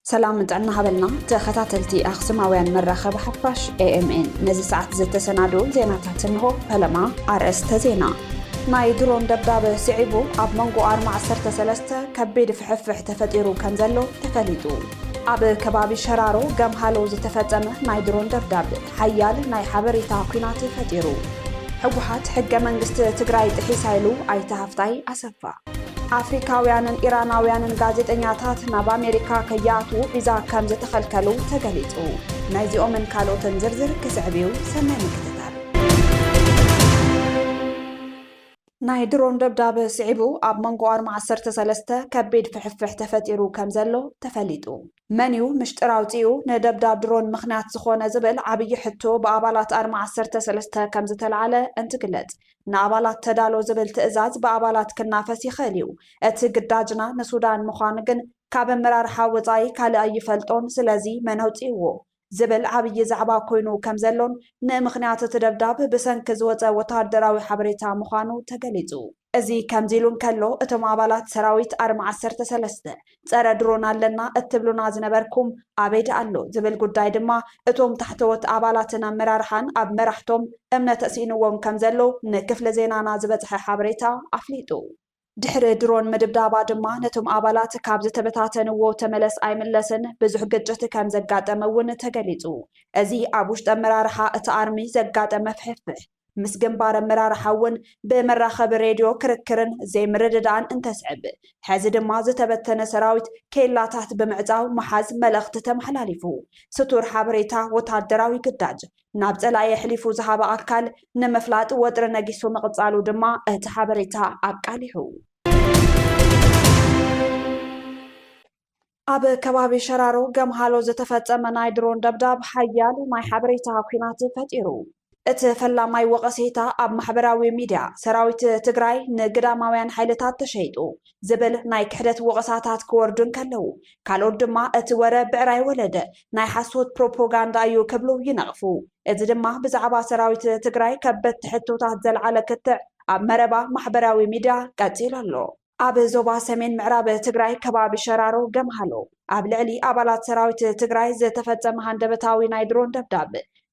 ሰላም ጥዕና ሃበልና ተኸታተልቲ ኣክሱማውያን መራኸቢ ሓፋሽ ኤኤምኤን ነዚ ሰዓት ዝተሰናድኡ ዜናታት እንሆ ፈለማ ኣርእስተ ዜና ናይ ድሮን ደብዳበ ስዒቡ ኣብ መንጎ ኣርማ 13 ከቢድ ፍሕፍሕ ተፈጢሩ ከም ዘሎ ተፈሊጡ ኣብ ከባቢ ሸራሮ ገምሃሎ ዝተፈጸመ ናይ ድሮን ደብዳብ ሓያል ናይ ሓበሬታ ኲናት ፈጢሩ። ህወሓት ሕገ መንግስቲ ትግራይ ጥሒሳ ኢሉ ኣይተ ሃፍታይ ኣሰፋ። ኣፍሪካውያንን ኢራናውያንን ጋዜጠኛታት ናብ ኣሜሪካ ከይኣትዉ ቪዛ ከም ዝተኸልከሉ ተገሊጹ። ናይዚኦምን ካልኦትን ዝርዝር ክስዕብ እዩ። ሰናይ ምክትታል። ናይ ድሮን ደብዳብ ስዒቡ ኣብ መንጎ ኣርማ ዓሰርተ ሰለስተ ከቢድ ፍሕፍሕ ተፈጢሩ ከምዘሎ ተፈሊጡ። መን'ዩ ምሽጥር ኣውጺኡ ንደብዳብ ድሮን ምኽንያት ዝኾነ ዝብል ዓብዪ ሕቶ ብኣባላት ኣርማ ዓሰርተ ሰለስተ ከምዝተልዓለ እንትግለጽ፣ ንኣባላት ተዳሎ ዝብል ትእዛዝ ብኣባላት ክናፈስ ይኽእል'ዩ፣ እቲ ግዳጅና ንሱዳን ምዃኑ ግን ካብ ኣመራርሓ ወጻኢ ካልእ ኣይፈልጦን፣ ስለዚ መን ኣውጺእዎ? ዝብል ዓብዪ ዛዕባ ኮይኑ ከም ዘሎን ንምኽንያት እቲ ደብዳብ ብሰንኪ ዝወጸ ወተሃደራዊ ሓበሬታ ምዃኑ ተገሊጹ። እዚ ከምዚ ኢሉ እንከሎ እቶም ኣባላት ሰራዊት ኣርሚ ዓሰርተ ሰለስተ ጸረ ድሮን ኣለና እትብሉና ዝነበርኩም ኣበይ ደኣ ኣሎ ዝብል ጉዳይ ድማ እቶም ታሕተዎት ኣባላትን ኣመራርሓን ኣብ መራሕቶም እምነት ስኢንዎም ከም ዘሎ ንክፍሊ ዜናና ዝበጽሐ ሓበሬታ ኣፍሊጡ። ድሕሪ ድሮን ምድብዳባ ድማ ነቶም ኣባላት ካብ ዝተበታተንዎ ተመለስ ኣይምለስን ብዙሕ ግጭት ከም ዘጋጠመ እውን ተገሊፁ። እዚ ኣብ ውሽጢ ኣመራርሓ እቲ ኣርሚ ዘጋጠመ ፍሕፍሕ ምስ ግንባር ኣመራርሓ እውን ብመራኸቢ ሬድዮ ክርክርን ዘይምርድዳእን እንተስዕብ ሕዚ ድማ ዝተበተነ ሰራዊት ኬላታት ብምዕፃው ምሓዝ መልእኽቲ ተመሓላሊፉ። ስቱር ሓበሬታ ወታደራዊ ግዳጅ ናብ ጸላኢ ኣሕሊፉ ዝሃበ ኣካል ንምፍላጥ ወጥሪ ነጊሱ ምቕጻሉ ድማ እቲ ሓበሬታ ኣቃሊሑ። ኣብ ከባቢ ሸራሮ ገምሃሎ ዝተፈጸመ ናይ ድሮን ደብዳብ ሓያል ናይ ሓበሬታ ኲናት ፈጢሩ። እቲ ፈላማይ ወቐሴታ ኣብ ማሕበራዊ ሚድያ ሰራዊት ትግራይ ንግዳማውያን ሓይልታት ተሸይጡ ዝብል ናይ ክሕደት ወቐሳታት ክወርዱ እንከለዉ፣ ካልኦት ድማ እቲ ወረ ብዕራይ ወለደ፣ ናይ ሓሶት ፕሮፖጋንዳ እዩ ክብሉ ይነቕፉ። እዚ ድማ ብዛዕባ ሰራዊት ትግራይ ከበድቲ ሕቶታት ዘልዓለ ክትዕ ኣብ መረባ ማሕበራዊ ሚድያ ቀፂሉ ኣሎ። ኣብ ዞባ ሰሜን ምዕራብ ትግራይ ከባቢ ሸራሮ ገምሃሎ፣ ኣብ ልዕሊ ኣባላት ሰራዊት ትግራይ ዝተፈጸመ ሃንደበታዊ ናይ ድሮን ደብዳብ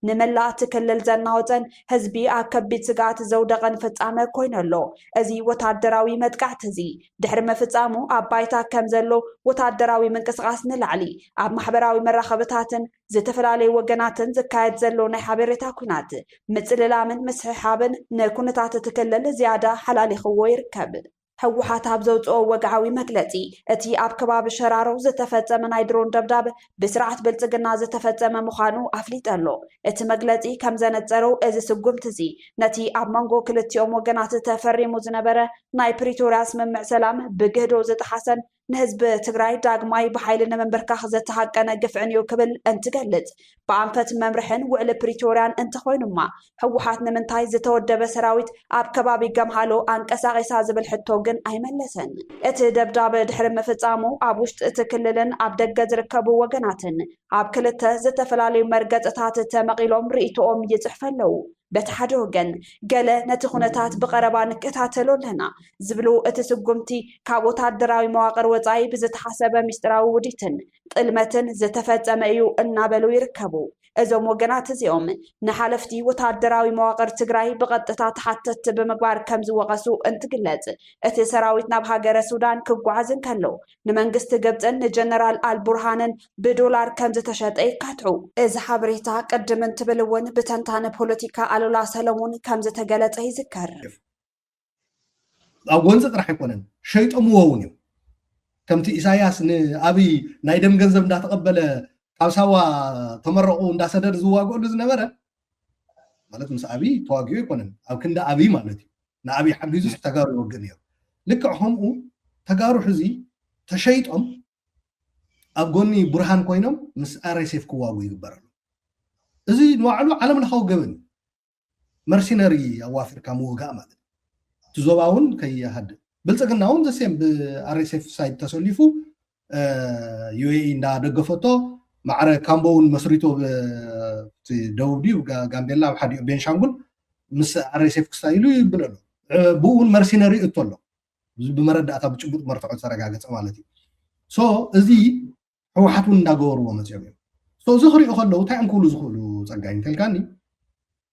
ንመላእ እቲ ክልል ዘናወፀን ህዝቢ ኣብ ከቢድ ስግኣት ዘውደቐን ፍጻመ ኮይኑ ኣሎ። እዚ ወታደራዊ መጥቃዕቲ እዚ ድሕሪ ምፍጻሙ ኣብ ባይታ ከም ዘሎ ወታደራዊ ምንቅስቓስ ንላዕሊ ኣብ ማሕበራዊ መራኸብታትን ዝተፈላለዩ ወገናትን ዝካየድ ዘሎ ናይ ሓበሬታ ኩናት ምጽልላምን ምስሕሓብን ንኩነታት እቲ ክልል ዝያዳ ሓላሊኽዎ ይርከብ። ህወሓት ኣብ ዘውፅኦ ወግዓዊ መግለፂ፣ እቲ ኣብ ከባቢ ሸራሮ ዝተፈፀመ ናይ ድሮን ደብዳብ ብስርዓት ብልፅግና ዝተፈፀመ ምዃኑ ኣፍሊጠ ኣሎ። እቲ መግለፂ ከም ዘነፀሮ እዚ ስጉምቲ እዚ ነቲ ኣብ መንጎ ክልቲኦም ወገናት ተፈሪሙ ዝነበረ ናይ ፕሪቶርያ ስምምዕ ሰላም ብግህዶ ዝጠሓሰን ንህዝቢ ትግራይ ዳግማይ ብሓይሊ ንምንብርካኽ ዘተሃቀነ ግፍዕን እዩ ክብል እንትገልጽ ብኣንፈት መምርሕን ውዕሊ ፕሪቶርያን እንተኾይኑማ ህወሓት ንምንታይ ዝተወደበ ሰራዊት ኣብ ከባቢ ገምሃሎ ኣንቀሳቂሳ ዝብል ሕቶ ግን ኣይመለሰን። እቲ ደብዳበ ድሕሪ ምፍጻሙ ኣብ ውሽጢ እቲ ክልልን ኣብ ደገ ዝርከቡ ወገናትን ኣብ ክልተ ዝተፈላለዩ መርገጽታት ተመቒሎም ርእይቶኦም ይጽሕፈ ኣለዉ። በቲ ሓደ ወገን ገለ ነቲ ኩነታት ብቐረባ ንከታተሎ ኣለና ዝብሉ እቲ ስጉምቲ ካብ ወታደራዊ መዋቕር ወፃኢ ብዝተሓሰበ ሚስጢራዊ ውዲትን ጥልመትን ዝተፈፀመ እዩ እናበሉ ይርከቡ። እዞም ወገናት እዚኦም ንሓለፍቲ ወታደራዊ መዋቕር ትግራይ ብቐጥታ ተሓተትቲ ብምግባር ከም ዝወቐሱ እንትግለፅ እቲ ሰራዊት ናብ ሃገረ ሱዳን ክጓዓዝ እንከሎ ንመንግስቲ ግብፅን ንጀነራል ኣልቡርሃንን ብዶላር ከም ዝተሸጠ ይካትዑ። እዚ ሓበሬታ ቅድም እንትብል እውን ብተንታነ ፖለቲካ ኣሉላ ሰለሙን ከም ዝተገለፀ ይዝከር። ኣብ ጎንፂ ጥራሕ ኣይኮነን ሸይጦምዎ እውን እዮም። ከምቲ ኢሳያስ ንኣብይ ናይ ደም ገንዘብ እንዳተቐበለ ካብ ሳዋ ተመረቑ እንዳሰደድ ዝዋግእሉ ዝነበረ ማለት ምስ ኣብይ ተዋጊኡ ኣይኮነን ኣብ ክንዲ ኣብይ ማለት እዩ ንኣብይ ሓጊዙ ተጋሩ ይወግእ ነይሩ ልክዕ ከምኡ ተጋሩ ሕዚ ተሸይጦም ኣብ ጎኒ ብርሃን ኮይኖም ምስ ኣርኤስኤፍ ክዋጉ ይግበር ኣሎ እዚ ንባዕሉ ዓለም ለኻዊ ገበን እዩ መርሲነሪ ኣዋፊርካ ምውጋእ ማለት እቲ ዞባ እውን ከይሃድእ ብልፅግና እውን ዘሴም ብኣርኤስኤፍ ሳይድ ተሰሊፉ ዩኤኢ እንዳደገፈቶ ማዕረ ካምቦ እውን መስሪቶ ደቡብ ድዩ ጋምቤላ ኣብ ሓዲኡ ቤንሻንጉል ምስ ኣርኤስኤፍ ክስታ ኢሉ ይብል ኣሎ ብኡ እውን መርሲነሪ እቶ ኣሎ ብመረዳእታ ብጭቡጥ መርትዖ ዝተረጋገፀ ማለት እዩ ሶ እዚ ህወሓት እውን እንዳገበርዎ መፅኦም እዮም እዚ ክሪኦ ከለዉ እንታይ እዮም ክብሉ ዝኽእሉ ፀጋይ እንተልካኒ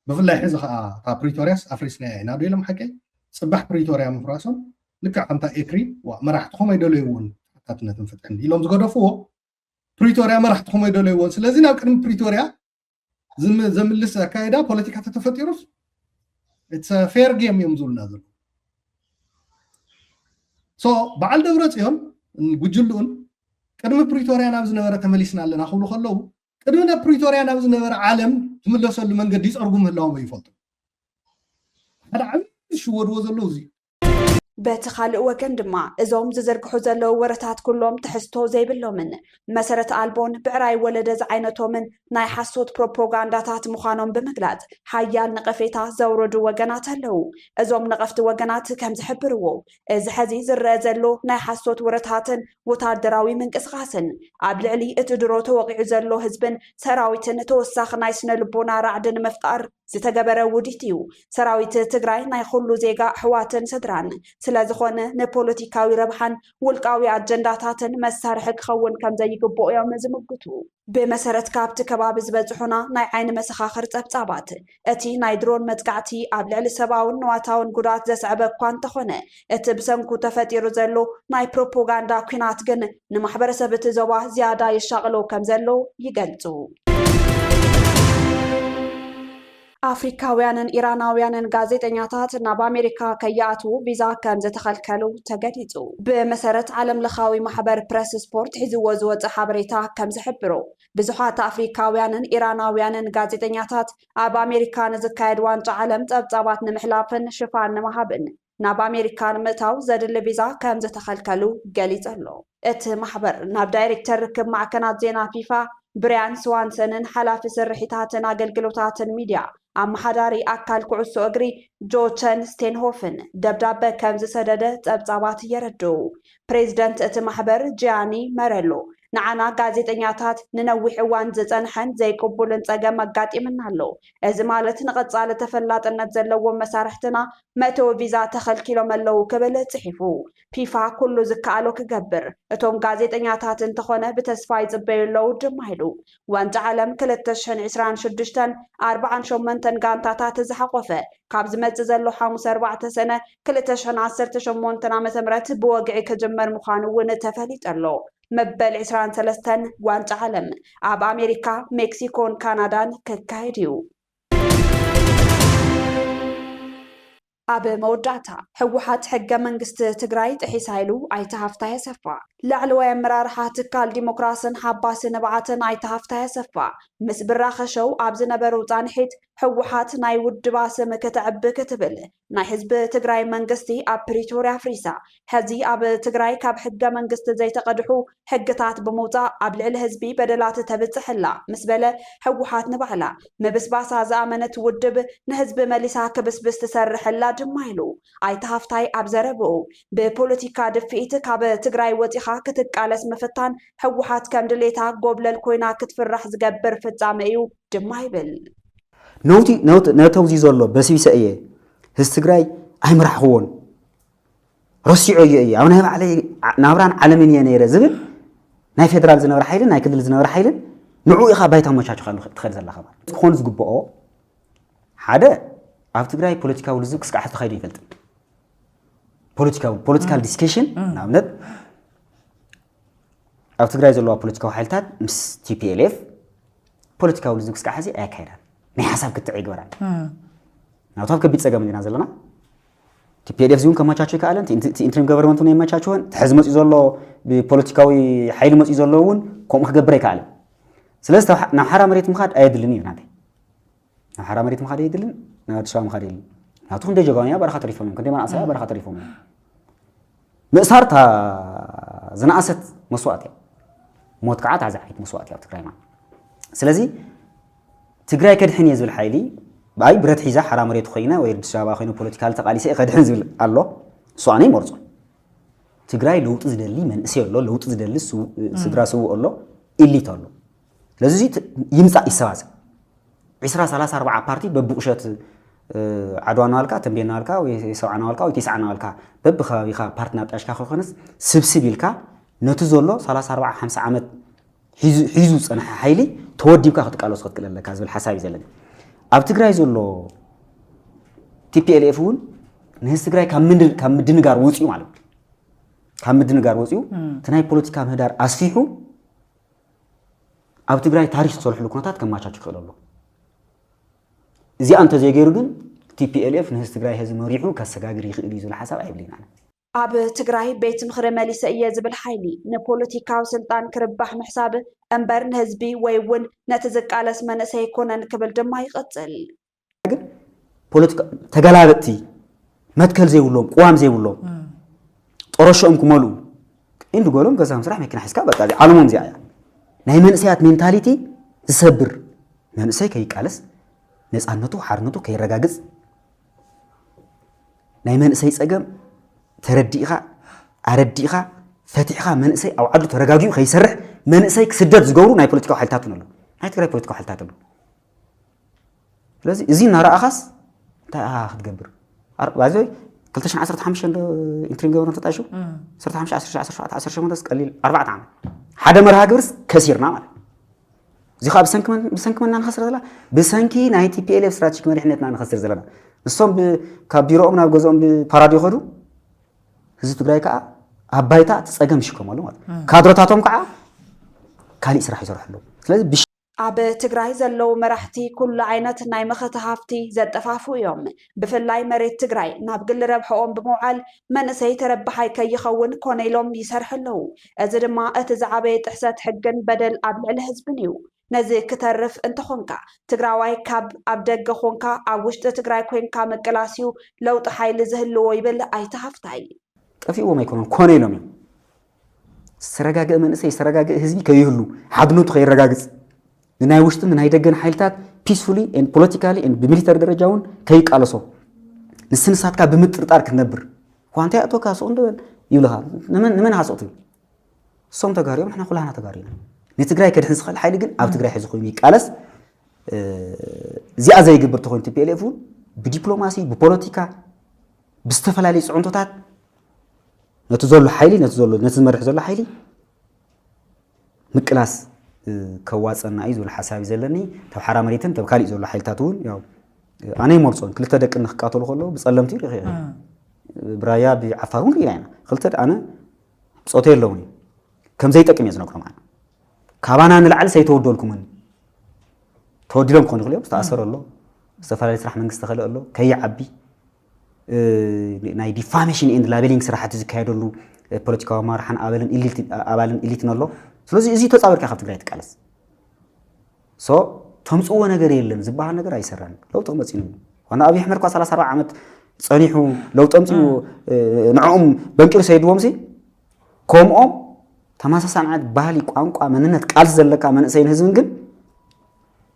ብፍላይ ሕዚ ከኣ እታ ፕሪቶርያስ ኣፍሪስናያ ኢና ዶ ኢሎም ሓቀይ ጽባሕ ፕሪቶርያ ምፍራሶም ልክዕ ከምታ ኤክሪ ዋእ መራሕትኹም ኣይደለይዎን ተሓታትነትን ፍትሕን ኢሎም ዝገደፍዎ ፕሪቶርያ መራሕትኹም ኣይደለይዎን ስለዚ ናብ ቅድሚ ፕሪቶርያ ዘምልስ ኣካይዳ ፖለቲካ ተተፈጢሩስ ፌር ጌም እዮም ዝብሉና ዘሎ ሶ በዓል ደብረ ፅዮን ጉጅልኡን ቅድሚ ፕሪቶርያ ናብ ዝነበረ ተመሊስና ኣለና ክብሉ ከለዉ ቅድሚ ናብ ፕሪቶርያ ናብ ዝነበረ ዓለም ትምለሰሉ መንገዲ ይፀርጉ ምህላዎም ኣይፈልጡ ሓደ ዓብዪ ዝሽወድዎ ዘለዉ እዚ በቲ ካልእ ወገን ድማ እዞም ዝዝርግሑ ዘለዉ ወረታት ኩሎም ትሕዝቶ ዘይብሎምን መሰረት ኣልቦን ብዕራይ ወለደ ዝዓይነቶምን ናይ ሓሶት ፕሮፖጋንዳታት ምዃኖም ብምግላጽ ሓያል ነቐፌታ ዘውረዱ ወገናት ኣለዉ። እዞም ነቐፍቲ ወገናት ከም ዝሕብርዎ እዚ ሐዚ ዝረአ ዘሎ ናይ ሓሶት ወረታትን ወተሃደራዊ ምንቅስቓስን ኣብ ልዕሊ እቲ ድሮ ተወቒዑ ዘሎ ህዝብን ሰራዊትን ተወሳኺ ናይ ስነ ልቦና ራዕዲ ንምፍጣር ዝተገበረ ውዲት እዩ። ሰራዊት ትግራይ ናይ ኹሉ ዜጋ ኣሕዋትን ስድራን ስለዝኾነ ንፖለቲካዊ ረብሓን ውልቃዊ ኣጀንዳታትን መሳርሒ ክኸውን ከምዘይግብኦ እዮም ዝምጉቱ። ብመሰረት ካብቲ ከባቢ ዝበፅሑና ናይ ዓይኒ መሰኻኽር ፀብፃባት፣ እቲ ናይ ድሮን መጥቃዕቲ ኣብ ልዕሊ ሰብኣውን ንዋታውን ጉድኣት ዘስዐበ እኳ እንተኾነ፣ እቲ ብሰንኩ ተፈጢሩ ዘሎ ናይ ፕሮፖጋንዳ ኲናት ግን ንማሕበረሰብ እቲ ዞባ ዝያዳ የሻቕሎ ከምዘሎ ይገልጹ። ኣፍሪካውያንን ኢራናውያንን ጋዜጠኛታት ናብ ኣሜሪካ ከይኣትዉ ቪዛ ከምዝተኸልከሉ ተገሊፁ። ብመሰረት ዓለምለኻዊ ማሕበር ፕረስ ስፖርት ሒዝዎ ዝወፀ ሓበሬታ ከምዝሕብሮ፣ ብዙሓት ኣፍሪካውያንን ኢራናውያንን ጋዜጠኛታት ኣብ ኣሜሪካ ንዝካየድ ዋንጫ ዓለም ጸብጻባት ንምሕላፍን ሽፋን ንምሃብን ናብ ኣሜሪካ ንምእታው ዘድሊ ቪዛ ከም ዝተኸልከሉ ገሊጹ ኣሎ። እቲ ማሕበር ናብ ዳይሬክተር ርክብ ማዕከናት ዜና ፊፋ ብርያን ስዋንሰንን ሓላፊ ስርሒታትን ኣገልግሎታትን ሚድያ ኣመሓዳሪ ኣካል ኩዕሶ እግሪ ጆቸን ስቴንሆፍን ደብዳበ ከም ዝሰደደ ጸብጻባት የረድኡ። ፕሬዝደንት እቲ ማሕበር ጂያኒ መረሎ፣ ንዓና ጋዜጠኛታት ንነዊሕ እዋን ዝፀንሐን ዘይቅቡልን ፀገም ኣጋጢምና ኣሎ። እዚ ማለት ንቐፃሊ ተፈላጥነት ዘለዎም መሳርሕትና መእተዊ ቪዛ ተኸልኪሎም ኣለው ክብል ፅሒፉ። ፊፋ ኩሉ ዝከኣሎ ክገብር፣ እቶም ጋዜጠኛታት እንተኾነ ብተስፋ ይፅበዩ ኣለው ድማ ኢሉ። ዋንጫ ዓለም ክልተ ሽሕን ዕስራን ሽዱሽተን ኣርብዓን ሸሞንተን ጋንታታት ዝሓቖፈ ካብ ዝመፅእ ዘሎ ሓሙስ ኣርባዕተ ሰነ ክልተ ሽሕን ዓሰርተ ሸሞንተን ዓመተ ምህረት ብወግዒ ክጅመር ምዃኑ እውን ተፈሊጡ ኣሎ። መበል ዕስራን ሰለስተን ዋንጫ ዓለም ኣብ ኣሜሪካ፣ ሜክሲኮን ካናዳን ክካየድ እዩ። ኣብ መወዳእታ ህወሓት ሕገ መንግስቲ ትግራይ ጥሒሳ ኢሉ ኣይተ ሃፍታይ ኣሰፋ። ላዕለዋይ ኣመራርሓ ትካል ዲሞክራስን ሓባሲ ንብዓትን ኣይተ ሃፍታይ ኣሰፋ ምስ ብራኸ ሸው ኣብ ዝነበሩ ፃንሒት ህወሓት ናይ ውድባ ስም ክተዕቢ ክትብል ናይ ህዝቢ ትግራይ መንግስቲ ኣብ ፕሪቶርያ ኣፍሪሳ ሐዚ ኣብ ትግራይ ካብ ሕገ መንግስቲ ዘይተቀድሑ ሕግታት ብምውፃእ ኣብ ልዕሊ ህዝቢ በደላት ተብፅሕ እላ ምስ በለ ህወሓት ንባዕላ ምብስባሳ ዝኣመነት ውድብ ንህዝቢ መሊሳ ክብስብስ ትሰርሕ እላ ድማ ኢሉ። ኣይተ ሃፍታይ ኣብ ዘረብኡ ብፖለቲካ ድፍኢት ካብ ትግራይ ወፂኻ ክትቃለስ ምፍታን ህወሓት ከም ድሌታ ጎብለል ኮይና ክትፍራሕ ዝገብር ፍፃመ እዩ ድማ ይብል። ነተውዚ ዘሎ በሲቢሰ እየ ህዝቢ ትግራይ ኣይምራሕኽዎን ረሲዖዮ እየ ኣብ ናይ ባዕለይ ናብራን ዓለምን እየ ነይረ ዝብል ናይ ፌደራል ዝነበረ ሓይልን ናይ ክልል ዝነበረ ሓይልን ንዕኡ ኢኻ ባይታ ኣመቻችኻሉ ትኸድ ዘለኻ ማለት ክኾን ዝግብኦ ሓደ ኣብ ትግራይ ፖለቲካዊ ልዝብ ክስካዕ ሕዚ ተኻይዱ ይፈልጥን ፖለቲካዊ ፖለቲካል ዲስከሽን ንኣብነት ኣብ ትግራይ ዘለዋ ፖለቲካዊ ሓይልታት ምስ ቲፒኤልኤፍ ፖለቲካዊ ልዝብ ክስካዕ ሕዚ ኣየካይዳን ናይ ሓሳብ ክትዕ ይግበራን ናብቲ ኣብ ከቢድ ፀገም እንዲና ዘለና ቲፒኤልኤፍ እዚውን ከመቻቸ ይከኣለን እቲ ኢንትሪም ገቨርንመንት እውን የመቻቸወን እቲ ሕዚ መፅኡ ዘሎ ብፖለቲካዊ ሓይሊ መፅኡ ዘሎ እውን ከምኡ ክገብር ኣይከኣለን ስለዚ ናብ ሓራ መሬት ምኻድ ኣየድልን እዩ ናተይ ናብ ሓራ መሬት ምኻድ የድልን ናብ ኣዲስ ኣበባ ምኻድ የድልን ናቱ ክንደይ ጀጋውያን ኣብ በረኻ ተሪፎም እዮም ክንደይ መናእሰይ ኣብ በረኻ ተሪፎም እዮም ምእሳር እታ ዝነኣሰት መስዋእቲ እያ ሞት ከዓ እታ ዝዓይት መስዋእቲ እያ ኣብ ትግራይና ስለዚ ትግራይ ከድሕን እየ ዝብል ሓይሊ ብኣይ ብረት ሒዛ ሓራ መሬት ኮይነ ወይ ኣዲስ ኣበባ ኮይኑ ፖለቲካ ተቃሊሰ ከድሕን ዝብል ኣሎ እሱ ኣነ ይመርፆ ትግራይ ለውጢ ዝደሊ መንእሰይ ኣሎ ለውጢ ዝደሊ ስድራ ስውእ ኣሎ ኢሊት ኣሎ ስለዚ እዚ ይምፃእ ይሰባሰብ ዒስራ ሰላሳ ኣርብዓ ፓርቲ በብቑሸት ዓድዋ ናዋልካ ተንቤ ናዋልካ ወይ ሰብዓ ናዋልካ ወይ ቴስዓ ናዋልካ በብከባቢኻ ፓርቲ ናጣሽካ ከይኮነስ ስብስብ ኢልካ ነቲ ዘሎ 34 50 ዓመት ሒዙ ዝፀንሐ ሓይሊ ተወዲብካ ክትቃለሱ ክትክእል ኣለካ ዝብል ሓሳብ እዩ ዘለኒ ኣብ ትግራይ ዘሎ ቲፒኤልኤፍ እውን ንህዝቢ ትግራይ ካብ ምድንጋር ወፅኡ ማለት እዩ ካብ ምድንጋር ወፅኡ እቲ ናይ ፖለቲካ ምህዳር ኣስፊሑ ኣብ ትግራይ ታሪክ ዝሰርሕሉ ኩነታት ከማቻች ይኽእል ኣሎ እዚኣ እንተዘይገይሩ ግን ቲፒኤልኤፍ ንህዝቢ ትግራይ ህዚ መሪሑ ከሰጋግር ይኽእል እዩ ዝብል ሓሳብ ኣይብልን ኣነ ኣብ ትግራይ ቤት ምኽሪ መሊሰ እየ ዝብል ሓይሊ ንፖለቲካዊ ስልጣን ክርባሕ ምሕሳብ እምበር ንህዝቢ ወይ እውን ነቲ ዝቃለስ መንእሰይ ኣይኮነን ክብል ድማ ይቕፅል። ግን ፖለቲካ ተገላበጥቲ መትከል ዘይብሎም ቅዋም ዘይብሎም ጦረሸኦም ክመልኡ እንዲ ገሎም ገዛ ምስራሕ መኪና ሒዝካ በቃ እዚ ዓለሞም እዚኣ እያ ናይ መንእሰያት ሜንታሊቲ ዝሰብር መንእሰይ ከይቃለስ ነፃነቱ ሓርነቱ ከይረጋግፅ ናይ መንእሰይ ፀገም ተረዲእኻ ኣረዲእኻ ፈቲሕኻ መንእሰይ ኣብ ዓዱ ተረጋጊኡ ከይሰርሕ መንእሰይ ክስደድ ዝገብሩ ናይ ፖለቲካዊ ሓይልታት እውን ኣለዉ ናይ ትግራይ ፖለቲካዊ ሓይልታት ኣለዉ ስለዚ እዚ እናረኣኻስ እንታይ ኢኻ ክትገብር ባይዘይ 215 ዶ ኢንትሪም ገበረ ተጣይሹ 15 ቀሊል ኣርባዕተ ዓመት ሓደ መርሃ ግብርስ ከሲርና ማለት እዚ ከዓ ብሰንኪ መና ንኸስር ዘለና ብሰንኪ ናይ ቲፒኤልኤፍ ስትራቴጂክ መሪሕነትና ንኸስር ዘለና ንሶም ካብ ቢሮኦም ናብ ገዝኦም ብፓራድ ይኸዱ ህዝቢ ትግራይ ከዓ ኣብ ባይታ እቲ ፀገም ይሽከመሉ ማለት ካድረታቶም ከዓ ካሊእ ስራሕ ይሰርሑ ኣለዉ ስለዚ ኣብ ትግራይ ዘለዉ መራሕቲ ኩሉ ዓይነት ናይ መኸተ ሃፍቲ ዘጠፋፍኡ እዮም። ብፍላይ መሬት ትግራይ ናብ ግሊ ረብሐኦም ብምውዓል መንእሰይ ተረባሓይ ከይኸውን ኮነ ኢሎም ይሰርሑ ኣለዉ። እዚ ድማ እቲ ዝዓበየ ጥሕሰት ሕግን በደል ኣብ ልዕሊ ህዝብን እዩ። ነዚ ክተርፍ እንተኾንካ ትግራዋይ ካብ ኣብ ደገ ኾንካ ኣብ ውሽጢ ትግራይ ኮይንካ ምቅላስ እዩ ለውጢ ሓይሊ ዝህልዎ ይብል ኣይተ ሃፍታይ። ጠፊእዎም ኣይኮኑን ኮነ ኢሎም እዮም። ዝተረጋገእ መንእሰይ ዝተረጋገእ ህዝቢ ከይህሉ ሓድነቱ ከይረጋግፅ ንናይ ውሽጥን ናይ ደገን ሓይልታት ፒስፉሊ ፖለቲካሊ ብሚሊተሪ ደረጃ እውን ከይቃለሶ ንስንሳትካ ብምጥርጣር ክትነብር ኳንታ ያእቶካ ሱቕ እንድበል ይብልኻ ንመን ሃሶት እዩ እሶም ተጋሩ እዮም ንሕና ኩላህና ተጋሩ ኢና ንትግራይ ከድሕን ዝኽእል ሓይሊ ግን ኣብ ትግራይ ሕዚ ኮይኑ ይቃለስ እዚኣ ዘይግብር ተኮይኑ ቲፒኤልኤፍ እውን ብዲፕሎማሲ ብፖለቲካ ብዝተፈላለዩ ፅዕንቶታት ነቲ ዘሎ ሓይሊ ነቲ ዘሎ ነቲ ዝመርሕ ዘሎ ሓይሊ ምቅላስ ከዋፀና እዩ ዝብል ሓሳብ እዩ ዘለኒ ተብ ሓራ መሬትን ተብ ካሊእ ዘሎ ሓይልታት እውን ያው ኣነ ይመርፆን ክልተ ደቂ ንክቃተሉ ከለዉ ብፀለምቲ ሪኸ ብራያ ብዓፋር እውን ርኢና ኢና ክልተ ኣነ ብፆተ የለውን እዩ ከምዘይጠቅም እየ ዝነግሮም ኣነ ካባና ንላዕሊ ሰይተወዶልኩምን ተወዲሎም ክኾኑ ይኽእሉ እዮም ዝተኣሰረ ኣሎ ዝተፈላለዩ ስራሕ መንግስቲ ዝተኸልአ ኣሎ ከይዓቢ ናይ ዲፋሜሽን ኤንድ ላቤሊንግ ስራሕቲ ዝካየደሉ ፖለቲካዊ ኣመራርሓን ኣበልን ኣባልን ኢሊትን ኣሎ ስለዚ እዚ ተፃወርካ ካብ ትግራይ ትቃለስ ሶ ተምፅዎ ነገር የለን ዝበሃል ነገር ኣይሰራን ለውጢ ክመፅእ እዩ ዋና ኣብይ ኣሕመድ እኳ 34 ዓመት ፀኒሑ ለውጢ ኣምፅኡ ንዕኦም በንቂሩ ሰይድዎም ሲ ከምኦም ተመሳሳሊ ዓይነት ባህሊ፣ ቋንቋ፣ መንነት፣ ቃልሲ ዘለካ መንእሰይን ህዝብን ግን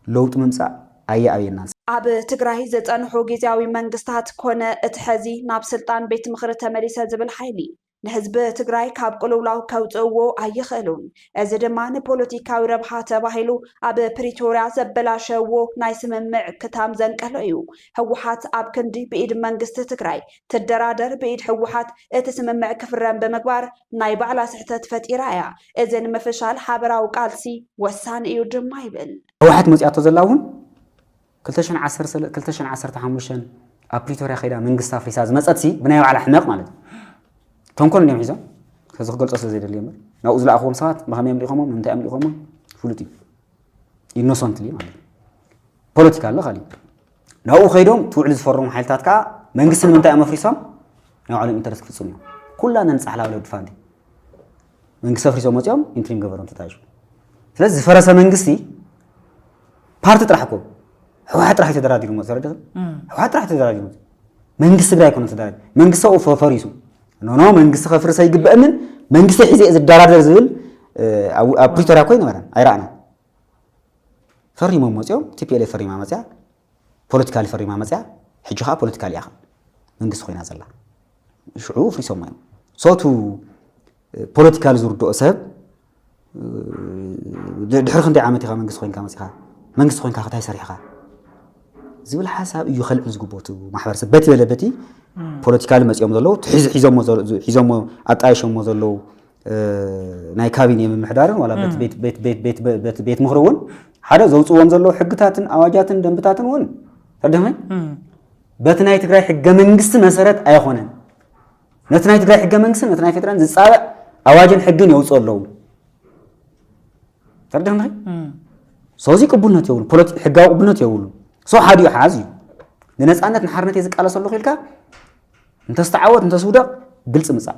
ለውጢ ምምፃእ ኣየኣብየናን። ኣብ ትግራይ ዝፀንሑ ጊዚያዊ መንግስታት ኮነ እቲ ሐዚ ናብ ስልጣን ቤት ምኽሪ ተመሊሰ ዝብል ሓይሊ ንህዝቢ ትግራይ ካብ ቅልውላው ከውፅእዎ ኣይኽእሉን። እዚ ድማ ንፖለቲካዊ ረብሓ ተባሂሉ ኣብ ፕሪቶርያ ዘበላሸውዎ ናይ ስምምዕ ክታም ዘንቀሎ እዩ። ህወሓት ኣብ ክንዲ ብኢድ መንግስቲ ትግራይ ትደራደር ብኢድ ህወሓት እቲ ስምምዕ ክፍረም ብምግባር ናይ ባዕላ ስሕተት ፈጢራ እያ። እዚ ንምፍሻል ሓበራዊ ቃልሲ ወሳኒ እዩ ድማ ይብል። ህወሓት መፂኣቶ ዘላ እውን ክልተ ሽሕን ዓሰርተ ክልተ ሽሕን ዓሰርተ ሓሙሽተን ኣብ ፕሪቶርያ ከይዳ መንግስቲ ኣፍሪሳ ዝመፀትሲ ብናይ ባዕላ ሕመቕ ማለት እዩ ተንኮል እንዲዮም ሒዞም ከዚ ክገልፆ ስለ ዘይደልየ እምበር ናብኡ ዝለኣኽዎም ሰባት ብኸመይ እዮም ልኢኾሞም ንምንታይ እዮም ልኢኾሞም ፍሉጥ እዩ ኢኖሰንትሊ ማለት እዩ ፖለቲካ ኣሎ ካሊእ ናብኡ ከይዶም እቲ ውዕሊ ዝፈረሙ ሓይልታት ከዓ መንግስቲ ንምንታይ እዮም ኣፍሪሶም ናይ ባዕሎም ኢንተረስ ክፍፅሙ እዮም ኩላ ነንፃሕላ ወለዲ ፋንቲ መንግስቲ ኣፍሪሶም መፅኦም ኢንትሪም ገበሮም ተታይሹ ስለዚ ዝፈረሰ መንግስቲ ፓርቲ ጥራሕ እኮ ህወሓት ጥራሕ ተደራዲሩ መፅ ተረድእ ህወሓት ጥራሕ ተደራዲሩ መፅ መንግስቲ ትግራይ ኮነ ተደራዲ መንግስቲ ኣብኡ ፈ- ፈሪሱ ኖኖ መንግስቲ ከፍርስ ኣይግበእንን መንግስቲ ሒዘ እየ ዝደራደር ዝብል እ፣ ኣብ ኣብ ፕሪቶሪያ እኮ ኣይነበረን ኣይረኣናን ፈሪሞም መፅኦም ቲፒኤልኤፍ ፈሪማ መፅያ ፖለቲካሊ ፈሪማ መፅያ ሕጂ ከዓ ፖለቲካሊ እያ መንግስቲ ኮይና ዘላ ሽዑ ፍሪሶም እዮም ሶቱ ፖለቲካሊ ዝርድኦ ሰብ ድሕሪ ክንደይ ዓመት ኢኻ መንግስቲ ኮይንካ መፅኻ መንግስቲ ኮይንካ ከታይ ሰሪሕኻ ዝብል ሓሳብ እዩ ከልዕል ዝግብኦ እቲ ማሕበረሰብ በቲ በለ በቲ ፖለቲካሊ መፅኦም ዘለዉ ሒዞሞ ኣጣየሾሞ ዘለዉ ናይ ካቢኔ ምምሕዳርን ዋላ ቤት ምክሪ እውን ሓደ ዘውፅዎም ዘለዉ ሕግታትን ኣዋጃትን ደንብታትን እውን ቀደመ በቲ ናይ ትግራይ ሕገ መንግስቲ መሰረት ኣይኮነን። ነቲ ናይ ትግራይ ሕገ መንግስቲ ነቲ ናይ ፌደራል ዝፃበዕ ኣዋጅን ሕግን የውፅኡ ኣለዉ ተርደመ ሰዚ ቅቡልነት የብሉ ሕጋዊ ቅቡልነት የብሉ ሰው ሓዲኡ ሓዝ እዩ ንነፃነት ንሓርነት እየ ዝቃለሰ ኣለኹ ኢልካ እንተስተዓወት እንተስውደቕ ግልፂ ምፃእ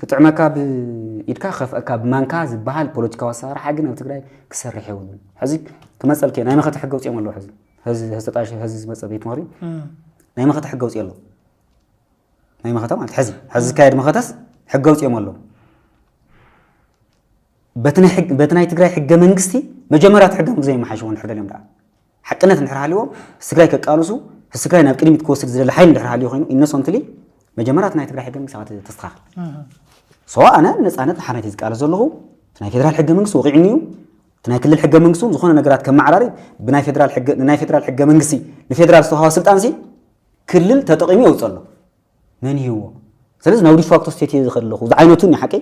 ክጥዕመካ ብኢድካ ክኸፍኣካ ብማንካ ዝበሃል ፖለቲካዊ ኣሰራርሓ ግን ኣብ ትግራይ ክሰርሕ የብሉን። ሕዚ ክመፀልክ እየ ናይ መኸተ ሕገ ውፅኦም ኣለዉ ሕዚ ሕዚ ሕዚ ተጣይሹ ሕዚ ዝመፀ ቤት ምኽሪ ናይ መኸተ ሕገ ውፅኦ ኣለዉ ናይ መኸተ ማለት ሕዚ ሕዚ ዝካየድ መኸተስ ሕገ ውፅኦም ኣለዉ በቲ ናይ ሕግ- በቲ ናይ ትግራይ ሕገ መንግስቲ መጀመርያ እቲ ሕገ መንግስቲ ዘይመሓሽዎ እንድሕር ደልዮም ደኣ ሓቅነት እንድሕር ሃልይዎ ህስግራይ ከቃልሱ ህስግራይ ናብ ቅድሚት ክወስድ ዝደሊ ሓይሊ እንድሕር ሃልዩ ኮይኑ ኢነሶንትሊ መጀመርያ እቲ ናይ ትግራይ ሕገ መንግስቲ ኣኻ ተስተኻኽል ሶ ኣነ ነፃነት ንሓርነት እዩ ዝቃለስ ዘለኹ እቲ ናይ ፌደራል ሕገ መንግስቲ ወቂዑኒ እዩ እቲ ናይ ክልል ሕገ መንግስቲ እውን ዝኾነ ነገራት ከመዓራሪ ብናይ ፌደራል ሕገ ንናይ ፌደራል ሕገ መንግስቲ ንፌደራል ዝተውሃበ ስልጣን ሲ ክልል ተጠቂሙ የውፅእ ኣሎ መን ይህዎ ስለዚ ናብ ዲፋክቶ ስቴት እየ ዝኸድ ኣለኹ ዝዓይነቱ እኒ ሓቀይ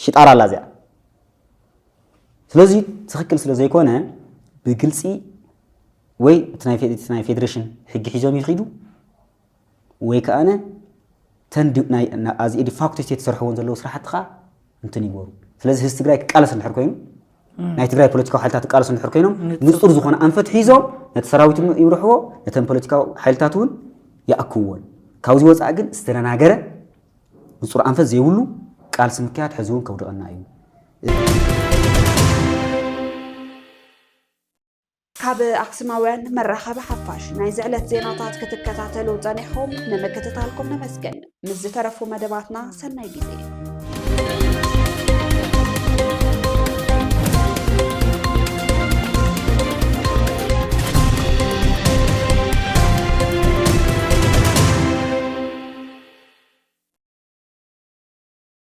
ሽጣራ ኣላ እዚኣ ስለዚ ትኽክል ስለ ዘይኮነ ብግልፂ ወይ እቲ ናይ ፌዴሬሽን ሕጊ ሒዞም ይኽዱ ወይ ከኣነ ተን ኣዚ ዲፋክቶ ስቴት ዝሰርሕዎን ዘለዉ ስራሕቲ ከዓ እንትን ይበሩ ስለዚ ህዝቢ ትግራይ ክቃለስ እንድሕር ኮይኑ ናይ ትግራይ ፖለቲካዊ ሓይልታት ክቃለሱ እንድሕር ኮይኖም ንፁር ዝኾነ ኣንፈት ሒዞም ነቲ ሰራዊት ይብርሕዎ ነተን ፖለቲካዊ ሓይልታት እውን ይኣክብዎን ካብዚ ወፃኢ ግን ዝተደናገረ ንፁር ኣንፈት ዘይብሉ ቃልሲ ምክያድ ሕዚ እውን ከውድቐና እዩ ካብ ኣክስማውያን መራኸቢ ሓፋሽ ናይዚ ዕለት ዜናታት ክትከታተሉ ጸኒሕኹም ንምክትታልኩም ነመስግን። ምስ ዝተረፉ መደባትና ሰናይ ግዜ